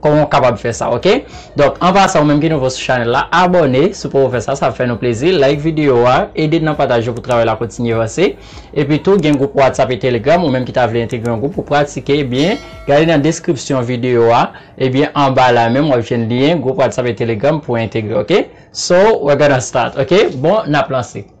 Koman ou kapab fè sa ok. Donk an pasan ou menm ki nouvo sou chanèl la abòne si w poko fè sa sa ap fè nou plezi like video a ede n nan pataj yo pou travay la kontinye vanse epi tou gen gwoup whatsapp e telegram ou menm ki ta vle entegre yon gwoup pou pratike ebyen gade nan deskripsyon video a ebyen anba la menm wap jwenn lyen gwoup whatsapp e telegram pou entegre ok so we're gonna start ok bon nap lanse.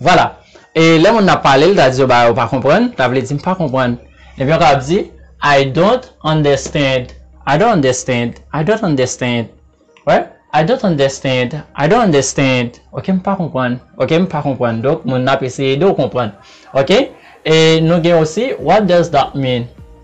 Vwala. E lè moun nan pale, l ta di yo bagay ou pa konprann, ta vle di m pa konprann. Epi yo kapab di, I don't understand, I don't understand, I don't understand, right? I don't understand, I don't understand, ok, m pa konprann, ok, m pa konprann. Donk, moun nan ap eseye ede w konprann. Ok? E nou gen osi, What does that mean?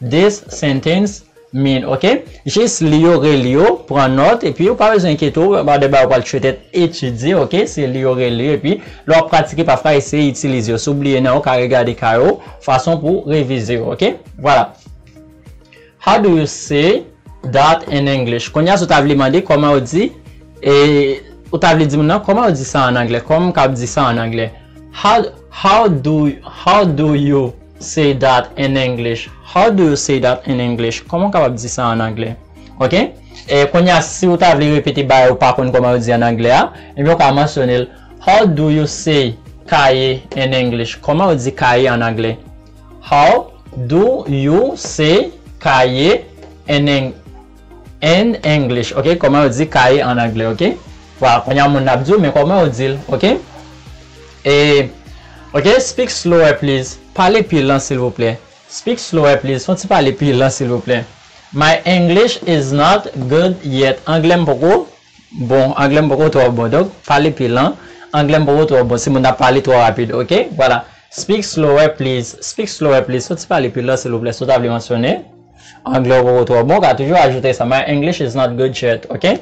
This sentence mean ok jis li yo reli yo pran nòt epi ou pa bezwen enkyete w about de bagay ou pral tretet etidye ok se li yo reli yo epi lè wap pratike pafwa eseye itilize yo si w bliye nan ou ka regade ka yo fason pou w revize yo ok vwala How do you say that in English kounye a si w ta vle mande kòman yo di e ou ta vle di moun nan kòman yo di sa an angle kòman m kab di sa an angle How do you Say that in English How do you say that in English Kòman ou kapab di sa an angle? Ok. Kounye a, si ou ta vle repete bagay ou pa konn kòman yo di an angle a, ebyen ou ka mansyone l How do you say kaye in English Kòman ou di kaye an angle? How do you say kaye in in English Ok. Kòman ou di kaye an angle? Ok. Vwala. Kounye a moun nan ap di ou, men kòman ou di l? Ok. E ok speak slower please pale pi lan silvouplè speak slower please fon ti pale pi lan silvouplè my English is not good yet anglè m poko bon anglè m poko twò bon donk pale pi lan anglè m poko twò bon si moun ap pale twò rapid ok vwala speak slower please speak slower please fon ti pale pi lan silvouplè si w ta vle mansyone anglè w poko twò bon w ka toujou ajoute sa my English is not good yet ok.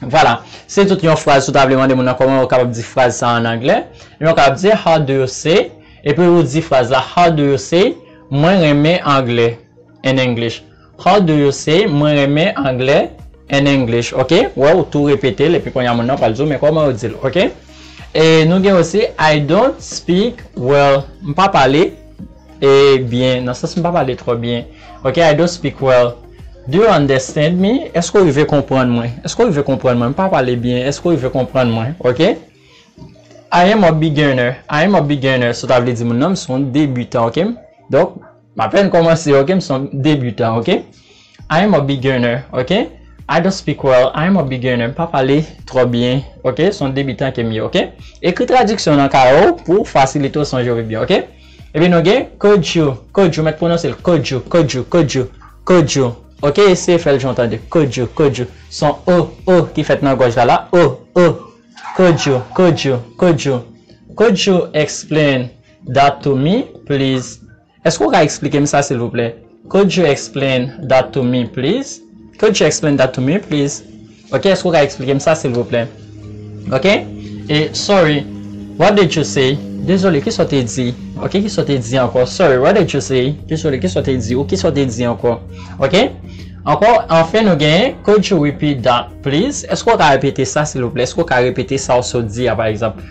Vwala, se tout yon fraz si w ta vle mande moun nan kòman yo kapab di fraz sa a an anglè, ebyen ou kapab di How do you say, epi ou di fraz la How do you say, Mwen renmen anglè, in English. How do you say, Mwen renmen anglè, in English, ok? Ou wè, ou tou repete l, epi kounye a moun nan pral di w men kòman yo di l, ok? E nou gen osi I don't speak well, m pa pale. E byen nan sans m pa pale twò byen ok I don't speak well Do you understand me Èske w rive konprann mwen Èske w rive konprann mwen M pa pale byen Èske w rive konprann mwen ok I am a beginner I am a beginner Sa ta vle di moun nan m s on debutan ok Donk m apèn kòmanse ok M s on debutan ok. I am a beginner ok I don't speak well I am a beginner m pa pale twò byen ok s on debitan ke m ye ok Ekri tradiksyon nan kaye w pou fasilite w sonje w pi byen ok Epi nou gen Could you Could you mèt pwononse l Could you Could you Could you Could you ok Eseye fè l jan w tande l Could you Could you S on o o ki fèt nan gòj la la o o Could you Could you Could you Could you explain that to me please? Eske ou ka eksplike m sa silvouplè could you explain that to me please could you explain that to me please ok eske ou ka eksplike m sa silvouplè ok e sorry what did you say dezole kisa w te di ok kisa w te di ankò sorry what did you say dezole kisa w te di ou kisa w te di ankò ok ankò anfen nou gen could you repeat that please eske ou ka repete sa silvouplè eske ou ka repete sa w sot di a pa egzanp.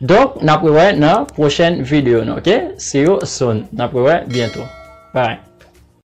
Donk nap rewè nan pwochèn video nou ok see you soon nap rewè byento bye.